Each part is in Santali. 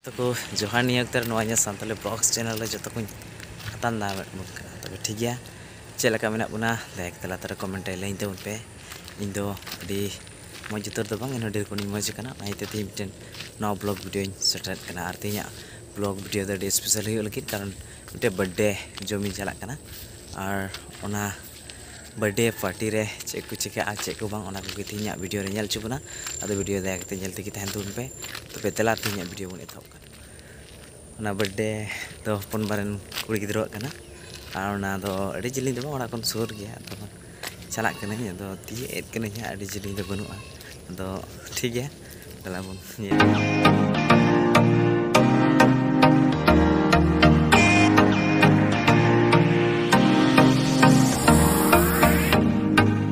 ᱛᱟᱠᱚ ᱡᱚᱦᱟᱨ ᱱᱤᱭᱟᱹ ᱚᱠᱛᱚ ᱨᱮ ᱱᱚᱣᱟ ᱤᱧᱟᱹᱜ ᱥᱟᱱᱛᱟᱞᱤ ᱵᱞᱚᱜᱥ ᱪᱮᱱᱮᱞ ᱨᱮ ᱡᱚᱛᱚ ᱠᱚᱧ ᱟᱛᱟᱝ ᱫᱟᱨᱟᱢᱮᱫ ᱵᱚᱱ ᱠᱟᱱᱟ ᱛᱚᱵᱮ ᱴᱷᱤᱠ ᱜᱮᱭᱟ ᱪᱮᱫ ᱞᱮᱠᱟ ᱢᱮᱱᱟᱜ ᱵᱚᱱᱟ ᱞᱟᱭᱤᱠ ᱛᱟᱞᱟ ᱛᱮ ᱠᱚᱢᱮᱱᱴ ᱨᱮ ᱞᱟᱹᱭ ᱛᱟᱵᱚᱱ ᱯᱮ ᱤᱧ ᱫᱚ ᱟᱹᱰᱤ ᱢᱚᱡᱽ ᱩᱛᱟᱹᱨ ᱫᱚ ᱵᱟᱝ ᱮᱱᱦᱚᱸ ᱰᱷᱮᱨ ᱠᱷᱚᱱᱤᱧ ᱢᱚᱡᱽ ᱟᱠᱟᱱᱟ ᱚᱱᱟ ᱤᱭᱟᱹᱛᱮ ᱛᱮᱦᱮᱧ ᱢᱤᱫᱴᱮᱱ ᱱᱟᱣᱟ ᱵᱞᱚᱜᱽ ᱵᱷᱤᱰᱤᱭᱳᱧ ᱥᱮᱴᱮᱨᱮᱫ ᱠᱟᱱᱟ ᱟᱨ ᱛᱮᱦᱮᱧᱟᱜ ᱵᱞᱚᱜᱽ ᱵᱷᱤᱰᱤᱭᱳ ᱫᱚ ᱟᱹᱰᱤ ᱥᱯᱮᱥᱟᱞ ᱦᱩᱭᱩᱜ ᱞᱟᱹᱜᱤᱫ ᱠᱟᱨᱚᱱ ᱢᱤᱫᱴᱮᱱ ᱵᱟᱨᱛᱷᱰᱮ ᱡᱚᱢᱤᱧ ᱪᱟᱞᱟᱜ ᱠᱟᱱᱟ ᱟᱨ ᱚᱱᱟ ᱵᱟᱨᱛᱷᱰᱮ ᱯᱟᱨᱴᱤ ᱨᱮ ᱪᱮᱫ ᱠᱚ ᱪᱤᱠᱟᱹᱜᱼᱟ ᱪᱮᱫ ᱠᱚ ᱵᱟᱝ ᱚᱱᱟ ᱠᱚᱜᱮ ᱛᱮᱦᱮᱧᱟᱜ ᱵᱷᱤᱰᱤᱭᱳ ᱨᱮ ᱧᱮᱞ ᱦᱚᱪᱚ ᱵᱚᱱᱟ ᱟᱫᱚ ᱵᱷᱤᱰᱤᱭᱳ ᱫᱟᱭᱟ ᱠᱟᱛᱮᱫ ᱧᱮᱞ ᱛᱮᱜᱮ ᱛᱟᱦᱮᱱ ᱛᱟᱵᱚᱱ ᱯᱮ ᱛᱚᱵᱮ ᱫᱮᱞᱟ ᱛᱮᱦᱮᱧᱟᱜ ᱵᱷᱤᱰᱤᱭᱳ ᱵᱚᱱ ᱮᱛᱚᱦᱚᱵ ᱠᱟᱜᱼᱟ ᱚᱱᱟ ᱵᱟᱨᱛᱷᱰᱮ ᱫᱚ ᱦᱚᱯᱚᱱ ᱵᱟᱨᱮᱱ ᱠᱩᱲᱤ ᱜᱤᱫᱽᱨᱟᱹᱣᱟᱜ ᱠᱟᱱᱟ ᱟᱨ ᱚᱱᱟ ᱫᱚ ᱟᱹᱰᱤ ᱡᱤᱞᱤᱧ ᱫᱚ ᱵᱟᱝ ᱚᱲᱟᱜ ᱠᱷᱚᱱ ᱥᱩᱨ ᱜᱮᱭᱟ ᱟᱫᱚ ᱪᱟᱞᱟᱜ ᱠᱟᱹᱱᱟᱹᱧ ᱟᱫᱚ ᱛᱤᱭᱟᱹᱜ ᱮᱫ ᱠᱟᱹᱱᱟᱹᱧ ᱦᱟᱸᱜ ᱟᱹᱰᱤ ᱡᱤᱞᱤᱧ ᱫᱚ ᱵᱟᱹᱱᱩᱜᱼᱟ ᱟᱫᱚ ᱴᱷᱤᱠ ᱜᱮᱭᱟ ᱛᱟᱦᱚᱞᱮ ᱵᱚᱱ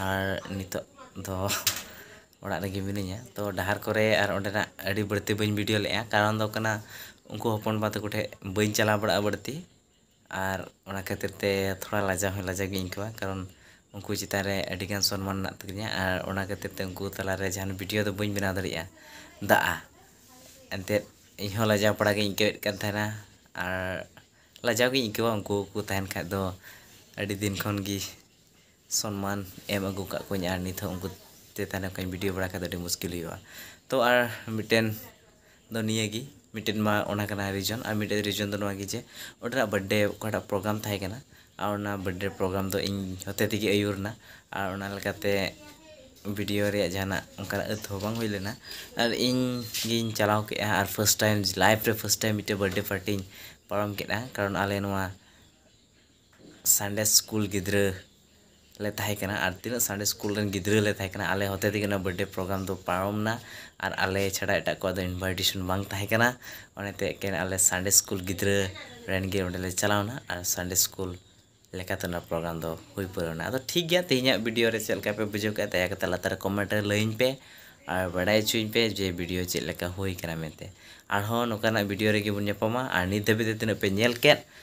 ᱟᱨ ᱱᱤᱛᱚᱜ ᱫᱚ ᱚᱲᱟᱜ ᱨᱮᱜᱮ ᱢᱤᱱᱟᱹᱧᱟ ᱛᱚ ᱰᱟᱦᱟᱨ ᱠᱚᱨᱮ ᱟᱨ ᱚᱸᱰᱮᱱᱟᱜ ᱟᱹᱰᱤ ᱵᱟᱹᱲᱛᱤ ᱵᱟᱹᱧ ᱵᱷᱤᱰᱤᱭᱳ ᱞᱮᱫᱼᱟ ᱠᱟᱨᱚᱱ ᱫᱚ ᱠᱟᱱᱟ ᱩᱱᱠᱩ ᱦᱚᱯᱚᱱᱵᱟ ᱛᱟᱠᱚ ᱴᱷᱮᱱ ᱵᱟᱹᱧ ᱪᱟᱞᱟᱣ ᱵᱟᱲᱟᱜᱼᱟ ᱵᱟᱹᱲᱛᱤ ᱟᱨ ᱚᱱᱟ ᱠᱷᱟᱹᱛᱤᱨ ᱛᱮ ᱛᱷᱚᱲᱟ ᱞᱟᱡᱟᱣ ᱦᱚᱸ ᱞᱟᱡᱟᱣ ᱜᱤᱧ ᱟᱹᱭᱠᱟᱹᱣᱟ ᱠᱟᱨᱚᱱ ᱩᱱᱠᱩ ᱪᱮᱛᱟᱱ ᱨᱮ ᱟᱹᱰᱤ ᱜᱟᱱ ᱥᱚᱱᱢᱟᱱ ᱢᱮᱱᱟᱜ ᱛᱟᱹᱞᱤᱧᱟ ᱟᱨ ᱚᱱᱟ ᱠᱷᱟᱹᱛᱤᱨ ᱛᱮ ᱩᱱᱠᱩ ᱛᱟᱞᱟ ᱨᱮ ᱡᱟᱦᱟᱱ ᱵᱷᱤᱰᱤᱭᱳ ᱫᱚ ᱵᱟᱹᱧ ᱵᱮᱱᱟᱣ ᱫᱟᱲᱮᱭᱟᱜᱼᱟ ᱫᱟᱜᱼᱟ ᱮᱱᱛᱮᱫ ᱤᱧ ᱦᱚᱸ ᱞᱟᱡᱟᱣ ᱯᱟᱲᱟ ᱜᱤᱧ ᱟᱹᱭᱠᱟᱹᱣᱮᱫ ᱠᱟᱱ ᱛᱟᱦᱮᱱᱟ ᱟᱨ ᱞᱟᱡᱟᱣ ᱜᱤᱧ ᱟᱹᱭᱠᱟᱹᱣᱟ ᱩᱱᱠᱩ ᱠᱚ ᱛᱟᱦᱮᱱ ᱠᱷᱟᱱ ᱫᱚ ᱟᱹᱰᱤ ᱫᱤᱱ ᱠᱷᱚᱱ ᱜᱮ ᱥᱚᱱᱢᱟᱱ ᱮᱢ ᱟᱹᱜᱩ ᱟᱠᱟᱫ ᱠᱚᱣᱟᱹᱧ ᱟᱨ ᱱᱤᱛ ᱦᱚᱸ ᱩᱱᱠᱩ ᱛᱮ ᱛᱟᱦᱮᱸ ᱞᱮᱱ ᱠᱷᱟᱱ ᱵᱷᱤᱰᱤᱭᱳ ᱵᱟᱲᱟ ᱠᱷᱟᱱ ᱫᱚ ᱟᱹᱰᱤ ᱢᱩᱥᱠᱤᱞ ᱦᱩᱭᱩᱜᱼᱟ ᱛᱳ ᱟᱨ ᱢᱤᱫᱴᱮᱱ ᱫᱚ ᱱᱤᱭᱟᱹ ᱜᱮ ᱢᱤᱫᱴᱮᱱ ᱢᱟ ᱚᱱᱟ ᱠᱟᱱᱟ ᱨᱤᱡᱚᱱ ᱟᱨ ᱢᱤᱫᱴᱮᱱ ᱨᱤᱡᱚᱱ ᱫᱚ ᱱᱚᱣᱟ ᱜᱮ ᱡᱮ ᱚᱸᱰᱮ ᱱᱟᱜ ᱵᱟᱨᱛᱷᱰᱮᱹ ᱚᱠᱟᱴᱟᱜ ᱯᱨᱳᱜᱽᱨᱟᱢ ᱛᱟᱦᱮᱸ ᱠᱟᱱᱟ ᱟᱨ ᱚᱱᱟ ᱵᱟᱨᱛᱷᱰᱮᱹ ᱯᱨᱳᱜᱽᱨᱟᱢ ᱫᱚ ᱤᱧ ᱦᱚᱛᱮ ᱛᱮᱜᱮ ᱟᱹᱭᱩᱨ ᱮᱱᱟ ᱟᱨ ᱚᱱᱟ ᱞᱮᱠᱟᱛᱮ ᱵᱷᱤᱰᱤᱭᱳ ᱨᱮᱭᱟᱜ ᱡᱟᱦᱟᱱᱟᱜ ᱚᱱᱠᱟᱱᱟᱜ ᱟᱹᱛ ᱦᱚᱸ ᱵᱟᱝ ᱦᱩᱭ ᱞᱮᱱᱟ ᱟᱨ ᱤᱧ ᱜᱤᱧ ᱪᱟᱞᱟᱣ ᱠᱮᱫᱼᱟ ᱟᱨ ᱯᱷᱟᱥᱴ ᱴᱟᱭᱤᱢ ᱞᱟᱭᱤᱯᱷ ᱨᱮ ᱯᱷᱟᱥᱴ ᱴᱟᱭᱤᱢ ᱢᱤᱫᱴᱮᱱ ᱵᱟᱨᱛᱷᱰᱮᱹ ᱯᱟᱨᱴᱤᱧ ᱯᱟᱨᱚᱢ ᱠᱮᱫᱼᱟ ᱠᱟᱨᱚᱱ ᱟᱞᱮ ᱱᱚᱣᱟ ᱥᱟᱱᱰᱮ ᱥᱠᱩᱞ ᱜᱤᱫᱽᱨᱟᱹ ᱞᱮ ᱛᱟᱦᱮᱸ ᱠᱟᱱᱟ ᱟᱨ ᱛᱤᱱᱟᱹᱜ ᱥᱟᱱᱰᱮ ᱥᱠᱩᱞ ᱨᱮᱱ ᱜᱤᱫᱽᱨᱟᱹ ᱞᱮ ᱛᱟᱦᱮᱸ ᱠᱟᱱᱟ ᱟᱞᱮ ᱦᱚᱛᱮ ᱛᱮᱜᱮ ᱚᱱᱟ ᱵᱟᱨᱛᱷᱰᱮᱹ ᱯᱨᱳᱜᱽᱨᱟᱢ ᱫᱚ ᱯᱟᱨᱚᱢ ᱮᱱᱟ ᱟᱨ ᱟᱞᱮ ᱪᱷᱟᱰᱟ ᱮᱴᱟᱜ ᱠᱚᱣᱟᱜ ᱫᱚ ᱤᱱᱵᱷᱟᱭᱴᱮᱥᱚᱱ ᱵᱟᱝ ᱛᱟᱦᱮᱸ ᱠᱟᱱᱟ ᱚᱱᱟᱛᱮ ᱮᱠᱮᱱ ᱟᱞᱮ ᱥᱟᱱᱰᱮᱹ ᱥᱠᱩᱞ ᱜᱤᱫᱽᱨᱟᱹ ᱨᱮᱱ ᱜᱮ ᱚᱸᱰᱮ ᱞᱮ ᱪᱟᱞᱟᱣ ᱮᱱᱟ ᱟᱨ ᱥᱟᱱᱰᱮᱹ ᱥᱠᱩᱞ ᱞᱮᱠᱟᱛᱮ ᱚᱱᱟ ᱯᱨᱳᱜᱽᱨᱟᱢ ᱫᱚ ᱦᱩᱭ ᱯᱩᱨᱟᱹᱣ ᱮᱱᱟ ᱟᱫᱚ ᱴᱷᱤᱠ ᱜᱮᱭᱟ ᱛᱮᱦᱮᱧᱟᱜ ᱵᱷᱤᱰᱤᱭᱳ ᱨᱮ ᱪᱮᱫ ᱞᱮᱠᱟ ᱯᱮ ᱵᱩᱡᱷᱟᱹᱣ ᱠᱮᱫᱼᱟ ᱫᱟᱭᱟ ᱠᱟᱛᱮᱫ ᱞᱟᱛᱟᱨ ᱨᱮ ᱠᱚᱢᱮᱱᱴ ᱨᱮ ᱞᱟᱹᱭᱟᱹᱧ ᱯᱮ ᱟᱨ ᱵᱟᱰᱟᱭ ᱦᱚᱪᱚᱧ ᱯᱮ ᱡᱮ ᱵᱷᱤᱰᱤᱭᱳ ᱪᱮᱫ ᱞᱮᱠᱟ ᱦᱩᱭ ᱟᱠᱟᱱᱟ ᱢᱮᱱᱛᱮ ᱟᱨᱦᱚᱸ ᱱᱚᱝᱠᱟᱱᱟᱜ ᱵᱷᱤᱰᱤᱭᱳ ᱨᱮᱜᱮ ᱵᱚᱱ ᱧᱟᱯᱟᱢᱟ ᱟᱨ ᱱᱤᱛ ᱫᱷᱟᱹᱵᱤᱡ ᱛᱮ ᱛᱤᱱᱟᱹᱜ ᱯᱮ ᱧᱮᱞ ᱠᱮᱫ